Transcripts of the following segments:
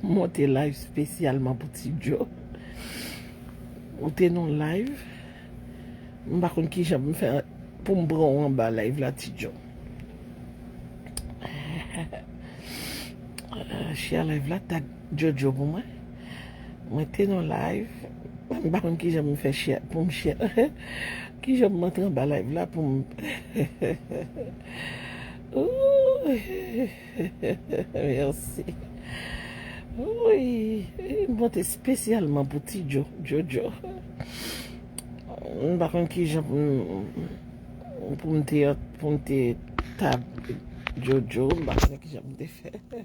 Monte live spesyalman pou ti djo. Ou te nou live. M pa konn kijan pou m fè pou m pran ou anba live la ti djo. Share live la tag djo djo pou mwen. Mwen te nou live. M pa konn kijan pou m fè share pou m share. Kijan pou m antre anba live la pou m. Merci Wouyy M pote spesyalman pou ti djo Jojo M pa konn kijan pou m te tab Jojo M pa konn kijan pou m te fè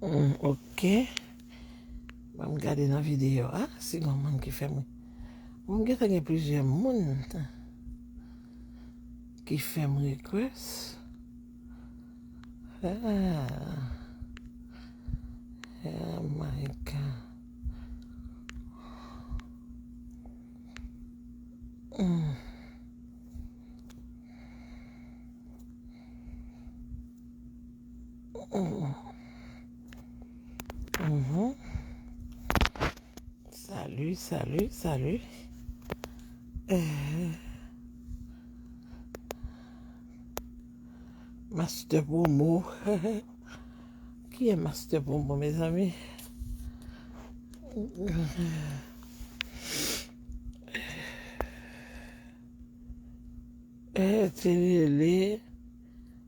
Ok. Ba m gade nan videyo a. Si gon moun ki fè m. M gen tan gen plizyè moun ki fè m rekwès. Oh my God. Salut, salut, salut. Euh. Master Promo. Qui est Master Promo, mes amis? Euh,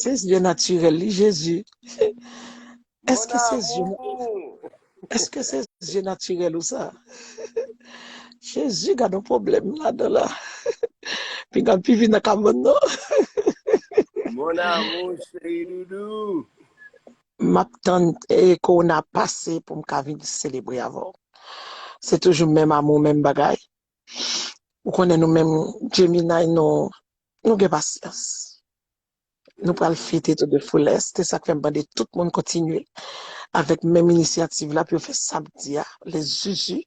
Se zye natirèl li jezi. Eske se zye. Eske se je natirèl ou sa? Jezi gadon pwoblèm ladan la. Pinga l pi vin nan kabann nan. Mon amour chéri doudou. Map tann eh, corona pase pou m ka vin selebre avè w. Se toujou menm amour menm bagay. Ou konnen nou menm Gemini nou nou gen pasyans. Nou pral fete to de foulès, se sak fèm mande tout moun kontinye avèk menm inisyativ la pou yo fè samdi a le zuzu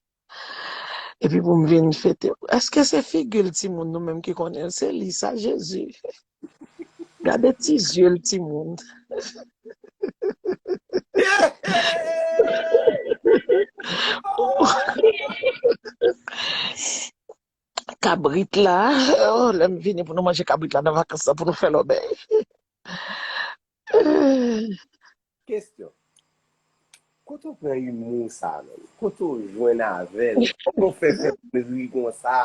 epi pou m vin fete èske se figi l timoun nou menm ki konnen l se li sa jezi gade ti zye l timoun kabrit la oh lèm vini pou nou manje kabrit la nan vakans lan pou nou fè lòbèy eh. Kesyon, Kote w pran humour sa menm? Kote w jwenn avè l? Kòman w fè fè moun ri konsa?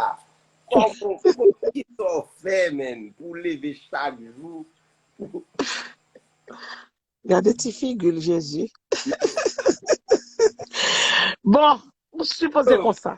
Kòman w fè? Kisa w fè menn pou w leve chak jou pou w. Gade ti figi l Jezi. Bon, m sipoze konsa.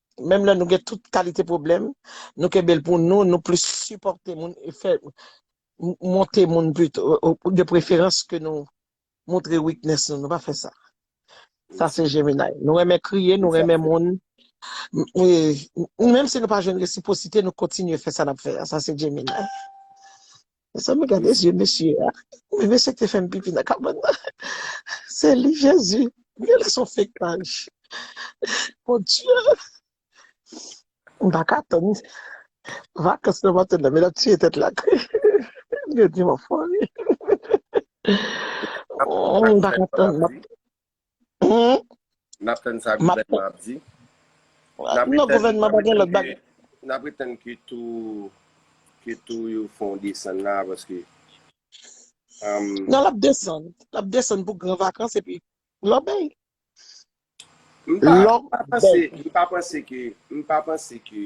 Menm lè nou gen tout kalite pwoblèm, nou kenbe l pou nou, nou plis sipòte moun e fè monte moun pito, de preferans ke nou montre weakness nou, nou pa fè sa. Sa se Gemini. Nou renmen kriye, nou renmen moun. Menm si nou pa jwenn resiprosite, nou kontinye fè sa n ap fè a. Sa se Gemini. Mezanmi gade zye mesye a. Men mesye te fèm pipi nan kabann nan. Se li Jezi. Mwen lè son fake paj. Mon Dieu. M pa ka tann. Vakans nan maten nan. Men ap tiye tèt la. Yo di m an fòmi. M pa ka tann. N ap tann sa gouvènman ap di. N ap retann ke to yo fè yon desann la paske. Nan l ap desann. L ap desann pou gran vakans epi lò bèy. M pa panse ke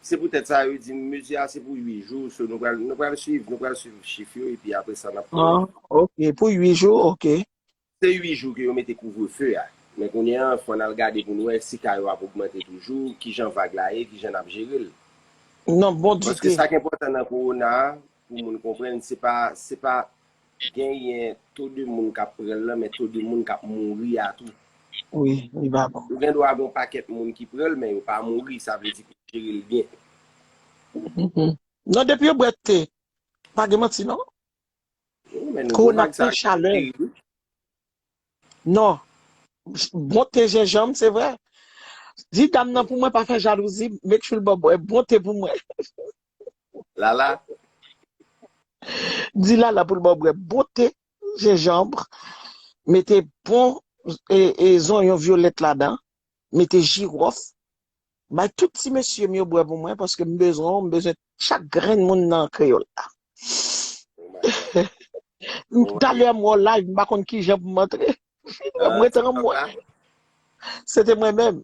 Se poutèt sa yo di mezi a se pou 8 jou so nou pral nou pral swiv nou pral swiv chif yo epi apre sa nap konnen. An ok pou 8 jou ok. Se 8 jou ke yo mete kouvrefe a men kounye an fò nal gade poun wè si ka yo ap ogmante toujou kijan vag la ye kijan nap jerel. Nan bon dite. Paske sak enpòtan nan kowona a Pou moun konprann, se pa se pa genyen to de moun k ap pran l lan men to de moun k ap mouri a tou. Wi, li pa bon. Ou gen dwa gen yon pakèt moun ki pran l men yo pa mouri, sa vle di ke w jere l byen. Non depi yo bwè te, pa gen manti non. Wi men nouvo vag sa a terib wi. Non, bon te jenjanm se vre. Di dam nan pou mwen pa fè jalouzi, make sure l ba w bwè bon te pou mwen. Lala. Di lala pou l ba w bwè bon te jenjanbre, mete bon zonyon vyolèt ladan, mete jiròf. Bay tout ti mesye m yo bwè pou mwen paske m bezwen w, m bezwen chak grenn moun nan kreyòl la. Talè m wè w live m pa konn kijan pou m antre. Mwen te anmwe. Se te mwen menm.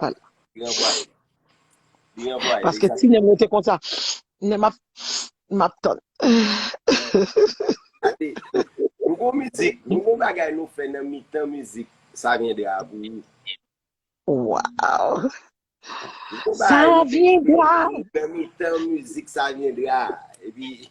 Pal. Li anvwaye. Li anvwaye. Paske ti nem rete konsa. Nem map map tann. Ade, nou gon mizik, nou gon bagay nou fè nan mitan mizik sa vyendra a pou ou. Waw. Nou gon bagay nou fè nan mitan mizik sa vyendra a. Epi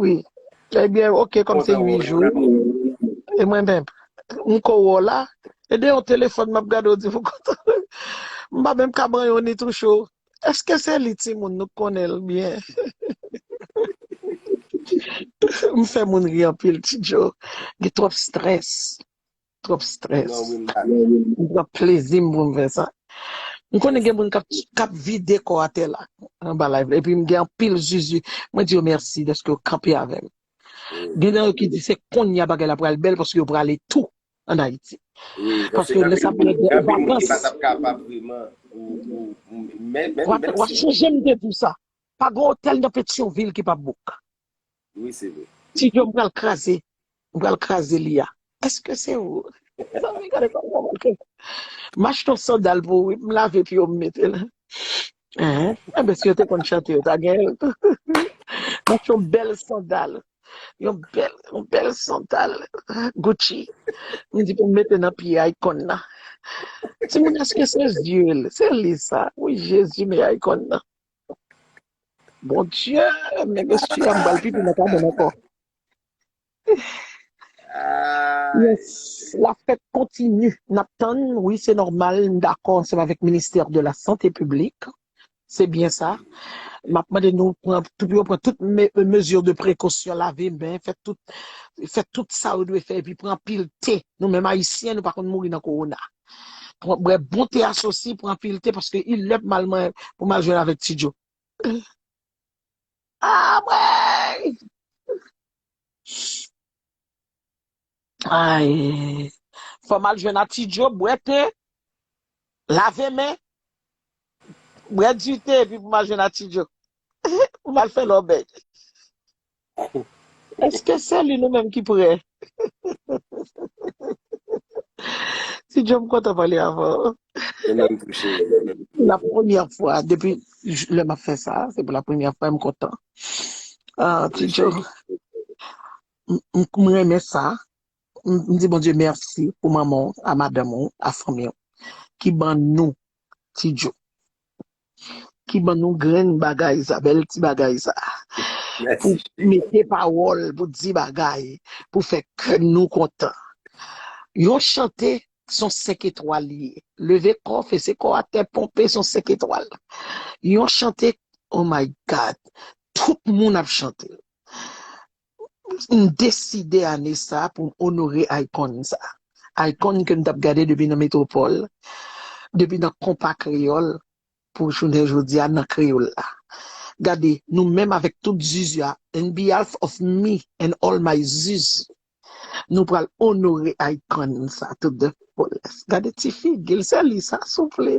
Wi ebyen ok kòm se 8 jou e mwen menm m ko wè w la e de yon telefòn map gade w di m kontan m pa menm ka banyon ni touche w eske se li timoun nou konnen l byen m fè moun ri anpil ti djo gen twòp strès. Twòp strès. M pran plezi m pou m fè sa. M konnen gen moun k ap vide kò atè la anba live la. Epi m gen anpil zuzu. Mwen di yo mèsi dèske yo kanpe avè m. Gen nan yo ki di se konnya bagay la pral bèl paske yo prale tou ann Ayiti. Paske lè sa pral gen vakans. Wa sonje m te di w sa. Pa gen otèl nan Petyonvil ki p ap bouk. Oui se vre. Ti Joe m pral kraze m pral kraze li a eske se ou. Mezanmi gade sa mwen manke. M achte yon sandal pou ou wi m lave pye w m mete l. Hein enben si yo te konn chante yo ta gen yo tou. M achte yon bèl sandal yon bèl yon bèl sandal Gucci m di pou m mete nan pye Akon nan. Timoun eske se yeux l se li sa. Wouyy Jezi men Akon nan. Bon Dieu, men mesye a m bal pipi nan kabann ankò. Ay. Yes, la fête continue. Nap tann, wi se normal, m dakò ansanm avèk ministère de la santé publique. Se byen sa. Map mande nou pran tou pou yo pran tout me, mesure de prekosyon, lave men, fè tout fè tout sa yo dwe fè epi pran anpil te. Nou menm ayisyen nou pa konn mouri nan kowona. Pran bwè bon te asosi, pran anpil te paske il lè pou mal man pou mal jwenn avèk ti djo. Ah mwen! Ay! Fò mal jwenn a ti djo, bwè te, lave men, bwè di te epi pou mal jwenn a ti djo. Pou mal fè lòbèy. Eske sè li nou menm ki prè. Ti Joe m kontan pale avè w. De menm pou cheri de menm pou La bébé. premyè fwa depi lè m ap fè sa se pou la premyè fwa m kontan. Ah Ti Apresye Joe li. m m renmen sa m m di Bondye mèsi pou manman w a madanm ou a fanmi w ki ban nou Ti Joe. ki ban nou grenn bagay sa, bèl ti bagay sa. Pou mete pawòl, pou di bagay, pou fè kè nou kontan. Yon chante, son senk etwal li ye. Leve kò, fese kò a tè, ponpe, son senk etwal. Yon chante, oh my God, tout moun ap chante. M deside ane sa a pou m onore icon sa a. Icon ke m t ap gade depi nan Metropole, depi nan Konpa Kreyòl pou jounen jodi a nan Kreyòl la. Gade, nou menm avèk tout zuzu a, in behalf of me and all my zuzu, nou pral onore icon sa a tout de bon. Gade ti figi l, se li sa souple?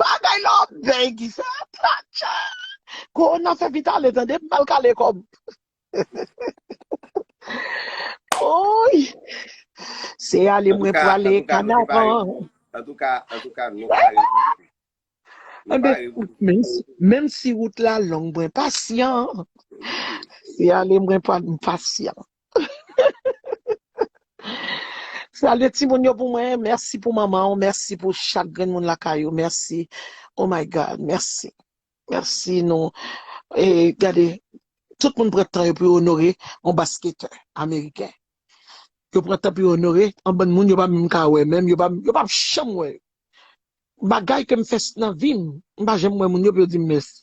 Bagay la ap bèy ki sa atcha. Kowona fè vit ale tande m pral kale kòm. Ouyy. Se ale mwen prale kanaran. An tou ka, an tou ka nou pa revoute. Nou pa revoute. Menm si wout la long mwen pasyan. Se ale mwen pral m pasyan. Salye timoun yo pou mwen, mèsi pou manman w, mèsi pou chak grenn moun lakay ou, mèsi oh my God, mèsi, mèsi nou e gade tout moun pran tan yo pou yo onore yon basketè ameriken, yo pran tan pou yo onore yon bann moun yo pa menm ka wè menm, yo pa yo pap janm wè yo, bagay ke m fè nan vi m, m pa janm wè moun yo pou yo di m mèsi.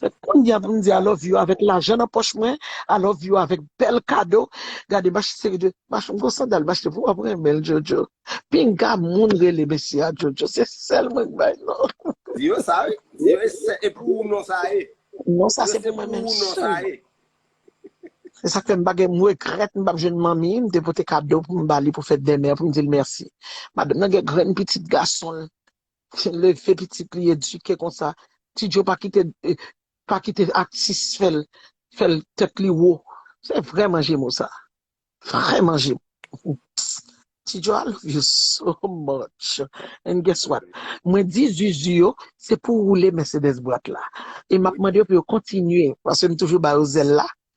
Se konnya pou m di I love you avèk lajan nan pòch mwen, I love you avèk bèl kado, gade m achte seri de, m achte m gon sandal m achte pou wap renmen l Jojo, pinga moun rele mesye a Jojo se sèl mwen k bay non. Di yo sa wi, di yo e sè e pou ou non sa ye. Non sa se pou mwen menm sèlman. Se sak fè m pa gen m regrèt m pap jwenn manmi m te pote kado pou m ba li pou fèt dèmen an pou m di l mèsi. Madanm nan gen grenn pitit gason l leve pitit li edike konsa ti djo pa kite pa kite atis fèl fèl tèt li wo se vrè manje mo sa vrè manje mo ti djo al love you so much and guess what mwen di zuzu yo se pou roule Mercedes bwat la e map mande yo pou yo kontinye paske m toujou ba yo zèl la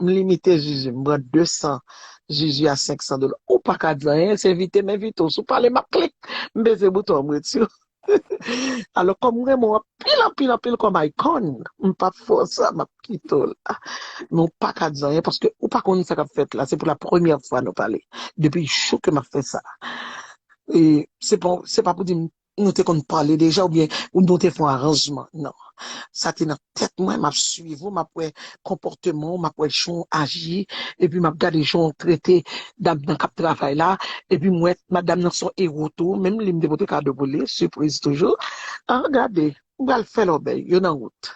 M limite zuzu m pran 200 zuzu a 500 dola ou paka di anyen se evite m evite w si w pale map klik m peze bouton an m reti w alò kòm m renmen w anpil anpil anpil kòm icon m pap fè w sa map kite w la men w paka di anyen paske ou pa konnen sa kap fèt la se pou la premyè fwa nou pale depi jou ke map fè sa e se pa pou di m Nou te konn pale deja oubyen nou te fè yon aranjman? Non. Sa te nan tèt mwen, m ap suiv ou, m ap wè konpòteman ou, m ap wè jan w aji, epi m ap gade jan w trete dam nan k ap travay la, epi m wè madam nan se yon ewo tou, menm li m te pote kado pou li, sipriz toujou. An gade! M pral fè lòbèy, yo nan wout.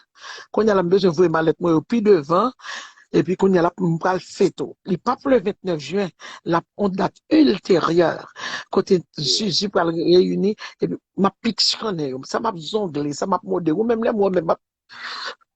Kounya la m bezwen voye malèt mwen yo pi devan epi kounya la m pral fete w. Li pap le 29 jen, l ap on dat ilteryè kote Zuzu pral reyini epi m ap piksyonnen yo. Sa m ap zongle, sa m ap mode, ou menm lè m wè w menm m ap.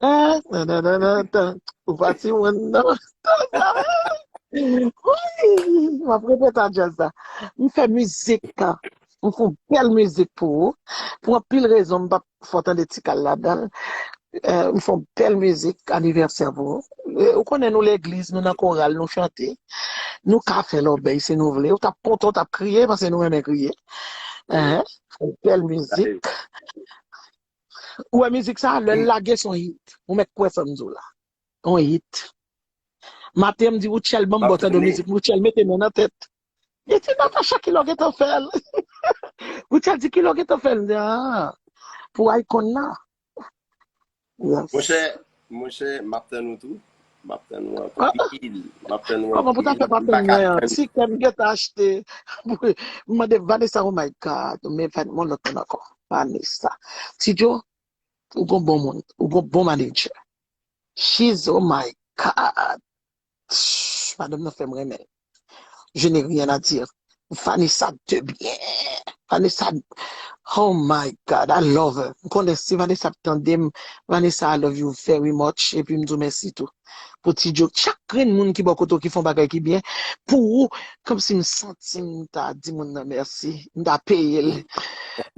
Ah, nan nan nan nan nan. Ou pa ti moun nan. Ouii, map repete a jazz la. M fè mizik ka. M fon bèl mizik pou ou. Pou anpil rezon m pap fò tande ti kal ladan. Euh, m fon bèl mizik anivèsè pou ou. Euh, Ou konnen nou legliz, nou nan koral, nou chante. Nou ka fè lòbèy si nou vle. Ou tap kontan, ou tap kriye, pase nou renmen kriye. Hein? Fon bèl mizik. Ou wè mizik sa a, lè l lage s on hit. Ou mèt kwè sa m di w la. On hit. Maten m di Rutshelle ban m bò tande mizik Rutshelle mete men nan tèt. Li di Natacha kilè w gentan fè l? Rutshelle di kilè w gentan fè l? M di aa pou Akon nan. Monchè Monchè map tann ou tou. Map tann ou anpil. Map tann ou anpil. Kòman pou ta fè pa tann mwen an. Ti kèm gen tan achte. M mande Vanessa oh my God. Men Van yon lòt moun ankò. Vanessa. Ti djo ou gon bon moun. Ou gon bon manager. She's oh my God. Shh madanm nan fèm renmenl je n'ai rien à dire Vanessa de bien Vanessa oh my God I love her m konnen si Vanessa ap tandem Vanessa I love you very much epi m diw mèsi tou pou ti joke chak grenn moun ki bò kote w ki fon bagay ki byen pou ou kòmsi m santim ta di moun nan mèsi m ta peyel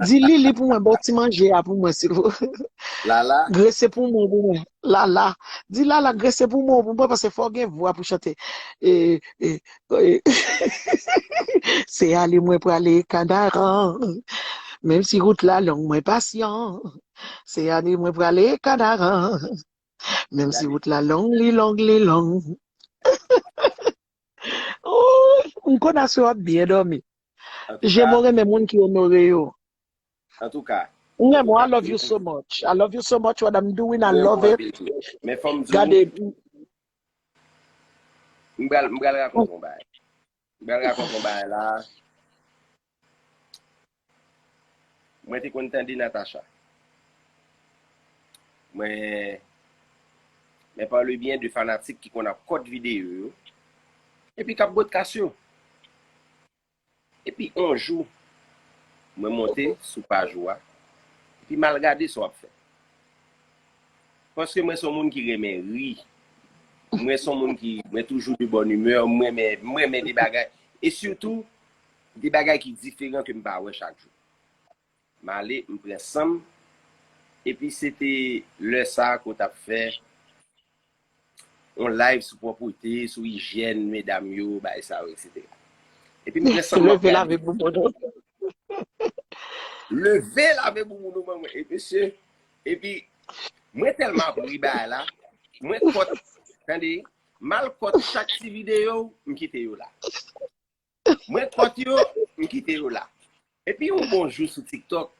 di Lili pou mwen baw ti manje a pou mwen silvouplè Lala grese pou mwen pou mwen Lala, di lala grese pou mwen pou mwen pase fò gen vwa pou chante e e e se ale mwen prale kanaran menm si rout la long mwen pasyan se ale mwen prale kanaran menm si rout la long li long li long oh m konn aswe wap byen domi jemo renmen moun ki onore yo Antouka M renmen w I love you so much I love you so much what I'm doing I love it Gade M pral rakonte yon bagay M pral rakonte yon bagay la Mwen te konn tande Natacha Mwen Mwen pa le byen de fanatik ki konn ap kòt videyo yo epi k ap bwè t kas yo. Epi on jou, mwen monte sou paj ou a, epi m al gade sa w ap fè. Paske mwen se yon moun ki renmen ri, mwen se yon moun ki, mwen toujou de bonne humeur, m renmen, m renmen de bagay, e sitou, de bagay ki diferan ke m pa wè chak jou. M ale, m pran san m. Epi se te lè sa a ke w t ap fè yon live sou pwòpwete, sou ijyèn medam yo, bagay sa yo eksetera. Epi m pran san m m ap gade. Leve lave bouboun ou. Leve lave bouboun ou ban mwen. E mesye, epi mwen tèlman ap ri bagay la, mwen kòt, tande, m al kòt chak ti videyo, m kite yo la. Mwen kòt yo, m kite yo la. Epi yon bon jou sou TikTok,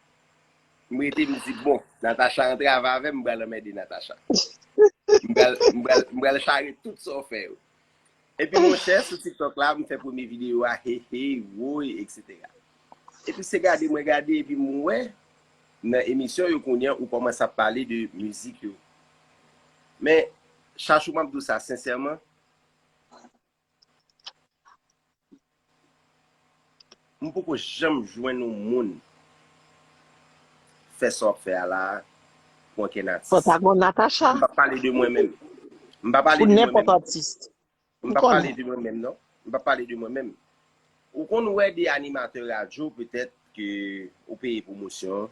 m rete m di bon, Natacha rantre ava avè m, m pral anmède Natacha. M pral, m pral, m pral chare tout sa w fè yo. Epi monchè, sou TikTok la, m fè premye videyo a, he he, woy, eksetera. Epi se gade mwen gade epi m wè nan emisyon yo kounye a ou kòmanse ap pale de mizik yo. Men, Chachou m ap di w sa sensèman, M poko janm jwenn yon moun fè sa wap fè a la pou ankenn atis. Fò ta gon Natacha. M pap pale de mwen menm. M pa pale de mwen menm. Pou nenpòt atis. M pap pale de mwen menm non. M pap pale de mwen menm. Ou konn wè de animatè radyo petèt ke ou peye pwomosyon,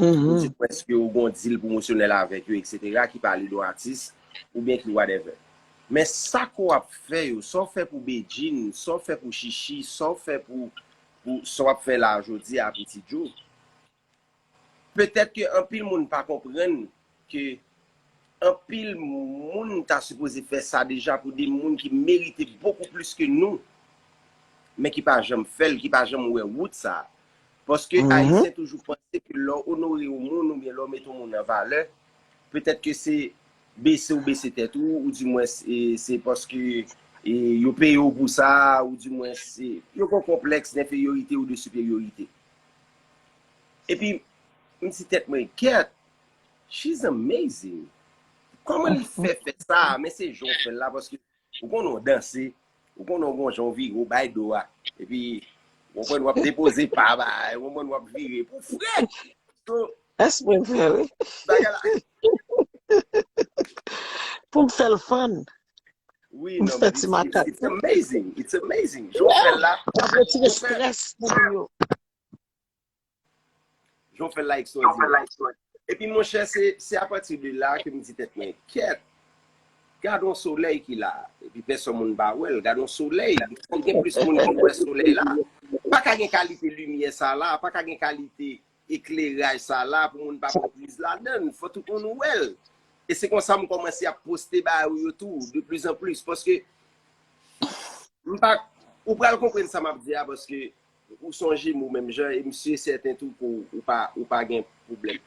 ou di mwen eske ou gon dil pwomosyonèl avèk yo etc ki pale de yon atis oubyen ki whatever. Men sa ke w ap fè yo, sa w fè pou Bedjine, sa w fè pou Shishi, sa w fè pou, pou sa w ap fè la a jodi a pou Ti Djo, Petèt ke anpil moun pa konprann ke anpil moun ta sipoze fè sa deja pou de moun ki merite bokou plis ke nou, men ki pa janm fè l, ki pa janm wè wout sa. Paske Ayisyen toujou panse ke lè w onore yon moun oubyen lè w mete yon moun an valè, petèt ke se bese w bese tèt ou, ou di mwens se paske yo peye w pou sa, ou di mwens yo gen yon konplèks denferyorite ou de siperyorite. Epi m di tèt mwen gèt she's amazing kòman li fè fè sa men se jan w fè l la paske ou konnen w danse ou konnen w gon jan w vire w bay do a epi w konprann w ap depoze pa bagay w konprann w ap vire pou fre so Èske mwen fè l? bagay la Pou m fè l fann wi M non fè ti makak it's amazing it's amazing jan w fè l la L ap retire strès pou moun yo Jan w fè l la ekstwòdinè. Epi monchè, se apati de la ke m di tèt mwen, kèt! Gad yon solèy ki la a. Epi pèsòn moun pa wè l. Gad yon solèy! Fò gen plis moun ki wè solèy la. Pa ka gen kalite limyè sa la a. Pa ka gen kalite ekleraj sa la a pou moun pa pran priz ladan l. Fò tout moun wè l. E se konsa m kòmanse ap poste bagay ou yo tou, de plis an plis. Paske, m pa, ou pral konprann sa m ap di a paske Ou son jemo menm jan e m sur sèten tou ke w pa ou pa gen pwoblèm.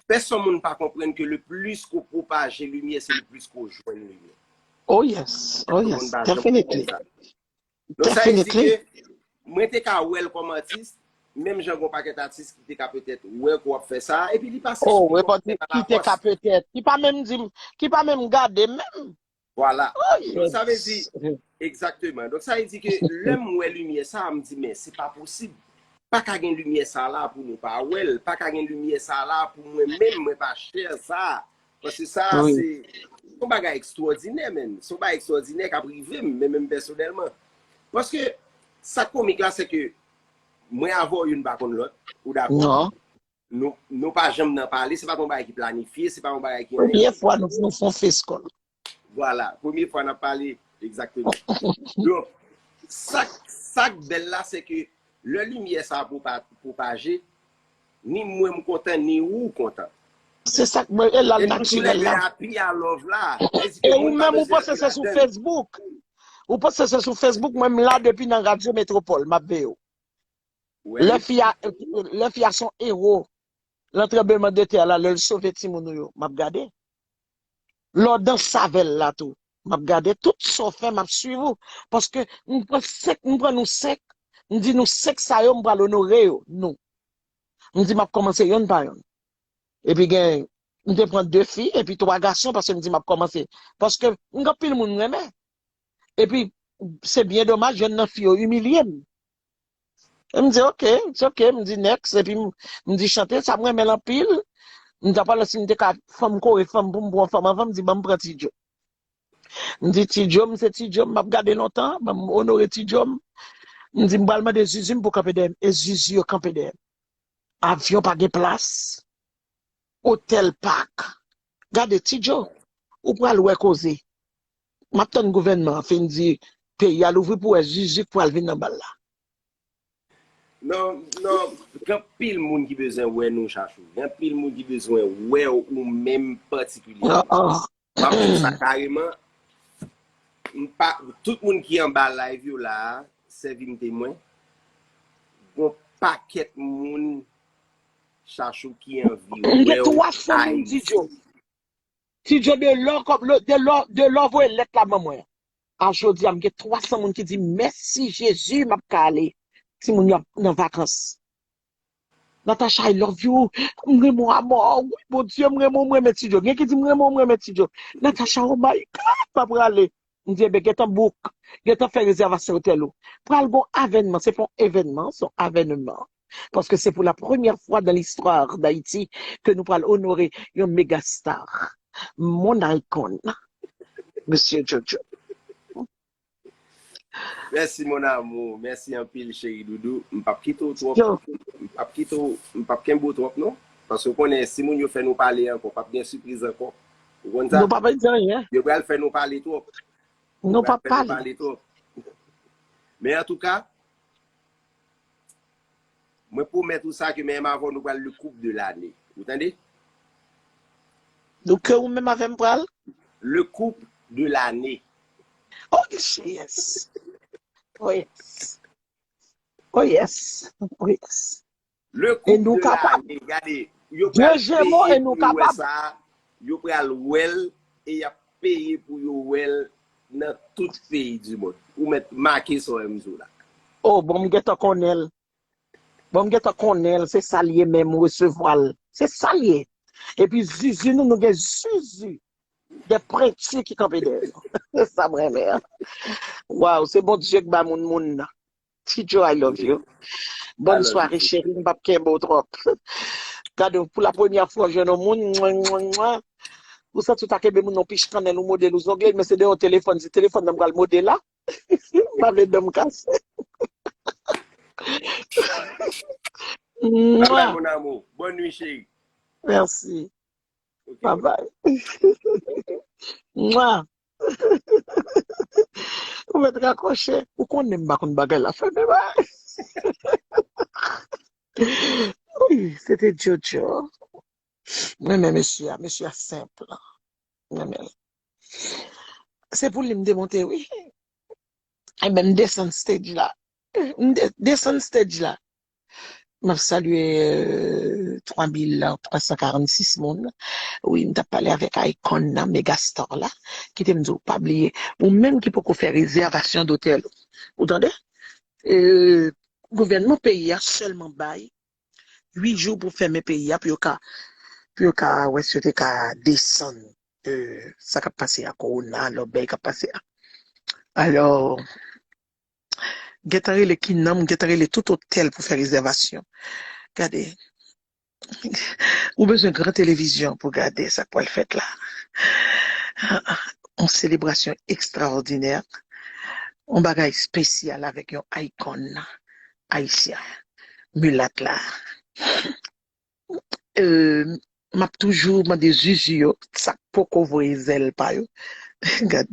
Pèson moun pa konprann ke le plis ke w pwopaje limyè se le plis ke w jwenn limyè. Oh yes, oh yes, definitely, definitely. Mwen te ka wè l kòm atis, menm jan gen yon pakèt atis ki te ka petèt wè ke w ap fè sa, epi li pa sispann kontinye pa lafòs. Ki te ka petèt, ki pa menm di m, ki pa menm gade m menm. Vwala. Donk sa vle di, egzakteman. Donk sa vle di ke lè m wè limyè sa a, m di men se pa posib. Pa ka gen limyè sa a la pou nou pa wè l. Pa ka gen limyè sa a la pou mwen menm mwen pa chè sa a. Paske sa a se, se yon bagay ekstwòdinè menn. Se yon bagay ekstwòdinè k ap rive m, menm pèsonèlman. Paske sa k komik la se ke mwen avè w youn pa konn lòt. Ou dakò? Nou pa janm nan pale, se pa yon bagay ki planifye, se pa yon bagay ki yon envite. Premye fwa nou foun foun fes kol. Vwala, premye fwa nan pale, egzakteman. Don, sak bel la se ke le limye sa pou pa pou pa je, ni mwen m kontan, ni ou kontan. Se sak mwen e lal nan chile la. E nou tou le de api a love la. E ou men mou pose se sou Facebook. Ou pose se sou Facebook, mwen m la depi nan radyo metropol, map veye ou. Lè fi a, lè fi a son ewo lan tranbleman de tè la, lè l sove timoun nou yo, m ap gade. Lè w danse avè l la tou, m ap gade. Tout sa w fè, m ap suiv ou. Paske m pran senk, m pran nou senk, m di nou senk sa yo m pral onore yo, nou. M di m ap kòmanse yonn pa yonn. Epi gen, m te pran de fi, epi twa gason, paske m di m ap kòmanse. Paske m gen anpil moun m renmen. Epi, se byen domaj, yonn nan fi yo imilye m. M di ok, it's ok, m di next epi m di chante sa m renmen l anpil, m ta pale si m te ka fò m kore fò m pou m pran yon fanm anvan m di ban m pran T-Joe. M di T-Joe m se T-Joe m ap gade lontan, ban m onore T-Joe m. M di m pral mande zuzu m pou kanpe dèyè m e zuzu yo kanpe dèyè m. Avyon pa gen plas, otèl pak. Gade T-Joe, ou pral wè koze. Map tann gouvènman an fin di peyi a louvri pou wè zuzu k pral vin nan bal la. Non non gen pil moun ki bezwen wè nou chachou gen pil moun ki bezwen wèw ou menm patikilyèman map di w sa kareman m pa tout moun ki anba live yo la a sèvi m temwen gon pakèt moun chachou ki anvi wèw ayiti. Ti Djo de lò kòb lo de lò de lò voye lèt la ban mwen an. A jodi a m gen 300 moun ki di m mèsi Jezi m ap ka ale timoun yo ap nan vakans. Natacha I love you m renmen w a mò wi Bondye m renmen w m renmen Ti Djo gen ki di m renmen w m renmen Ti Djo Natacha oh my God m pa prale Ndyenbe gentan book, gentan fè rezèvasyon otèl ou. Pral gon avènman, se pa yon evènman, se yon avènman. Paske se pou la premyè fwa dan listwa Dayiti ke nou pral onore yon mega star. Mon icon. Mesye JoJo. Mèsi mon amour, mèsi anpil cheri doudou. M pap kite w twòp, m pap kite w, m pap kenbe w twòp non. Paske w konnen si moun yo fè nou pale ankò, pap gen sipriz ankò. Ou konn sa? Nou pa pral di anyen. Yo pral fè nou pale twòp. Yo pral fè nou pale twòp. Men an tou ka, mwen pwomèt ou sa ke menm avè w nou pral le koup de lane. Ou tande? Donk ke ou menm avè m pral? Le koup de lane. Oh jeyès! Oh yes! Oh yes! Oh yes! Le couple de l'année gade yo pral peye pou yo wè sa yo pral wèl e yap peye pou yo wèl nan tout peyi du monde ou mèt make sa wèm diw la. Oh bon m gentan konnenl bon m gentan konnenl se sal ye menm ou resevwal se sal ye epi zuzu nou nou gen zuzu de prentu ki kanpe dèyè nou se sam renmen an waw se Bondye k ba moun moun nan. Ti Joe I love you. Bòn sware cheri m pap kenbe w twòp. Gade w pou la premyè fwa w jwenn yon moun mwen mwen mwen ou santi w ta kenbe moun nan w pich kannèl ou mode l ou zongle l men se de yon telefòn se telefòn nan m pral mode la m pa vle dan m kase. Bye bye mon amour bonne nuit cheri. Merci. Bye bye. Mwa. Ou met rakoche. Ou konnen m pa konn bagay la fè men bagay. Wi, se te Jojo. M renmen mesye a, mesye a senp. M renmen l. Se pou li m te monte wi. Enben m desann stage la. M desann stage la. Map salye 3346 moun wi mtap pale avèk Icon nan Megastar la kitem diw pa bliye ou menm ki poko fè rezèvasyon dotèl ou ou tande gouvènman peyi a sèlman bay 8 jou pou fèmen peyi a pou yo ka pou yo ka wè si yo te ka desann sa kap pase a kowona lòt bagay kap pase a alò. gentan rele ki non m gentan rele tout otèl pou fè rezèvasyon gade ou bezwen gran televizyon pou gade sa k pral fèt la yon selebrasyon ekstraòdinè yon bagay espesyal avèk yon icon ayisyen milat la. Map toujou mande zuzu yo sa poko voye zèl pa yo gad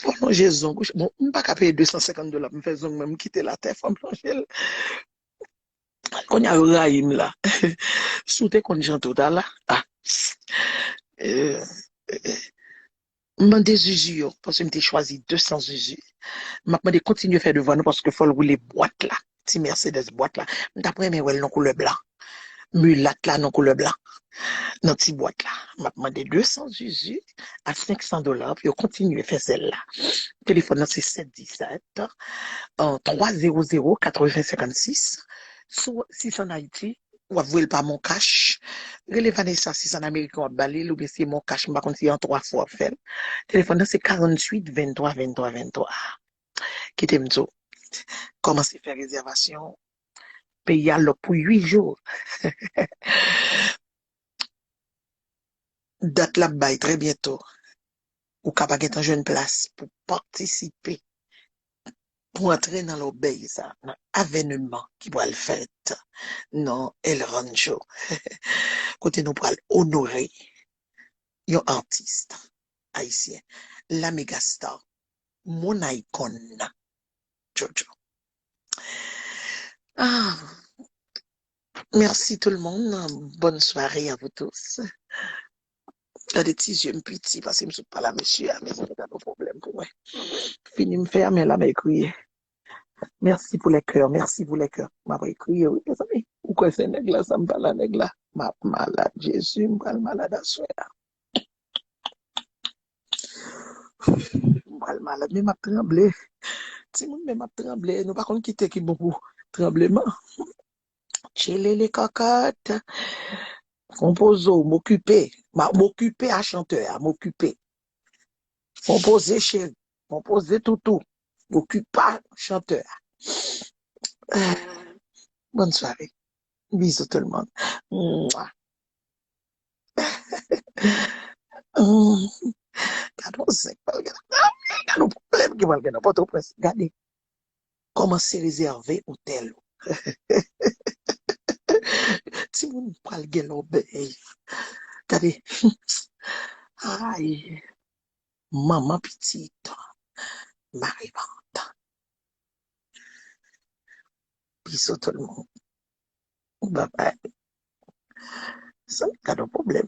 fò lonje zong ou bon m paka peye 250 dola pou m fè zong mwen m kitel atè fòm lonje l konnya yo rayi m la si w te konn jan tou ta la a. M mande zuzu yo paske m te chwazi 200 zuzu map mande kontinye fè devan nou paske fòl woule bwat la ti Mercedes bwat la m tap renmen wèl nan koulè blan mulat la nan koulè blan nan ti bwat la map mande 200 zuzu a 500 dola pou yo kontinye fè sèl la telefòn nan se 717 3 00 80 56 sou 6 an Ayiti. wap voyel pa moncash rele Vanessa si se an ameriken wap balil oubyen si se moncash m pa konn si an 3 fwa wap fèl telefòn nan se 48 23 23 23 kitem diw kòmanse fè rezèvasyon peyi a lòk pou 8 jou dat lap bay trè byento. ou ka pa gen tan jwenn plas pou patisipe, pou antre nan lòbèy sa, nan avèneman ki pral fèt nan El Rancho, kote nou pral onore yon atis ayisyen, la mega star, moun aykòn nan, JoJo. Merci tout le monde, bonne soirée à vous tous. Gade ti zye m piti paske m sot pale a mesye a men se pa yon pwoblèm pou mwen. Fini m fè a men la mè kriye. Merci pou les cœurs, merci pou les cœurs. M apre kriye wi mezanmi. Ou kwè se nèg la sa m pale a nèg la. M ap malad Jezi m pral malad aswè a. M pral malad men m ap tranble. Timoun men m ap tranble nou pa konn ki te ki bon pou tranbleman. Tchelele kòkòt. Konpoze w, m okipe. M okipe a chantè a, m okipe. Konpoze cheri, konpoze toutou. M okipa chantè a. Bòn sware. Bizou tout moun. Mwa. Gade yon zèk pral gen nan Gade yon pwoblèm ki pral gen nan Pòtoprens. Gade. Kòmanse rezève otèl ou. Timoun pral gen lòbèy. Gade Ay manman pitit Marivant. Bisou tout moun. Babay. Mezanmi gad on pwoblèm.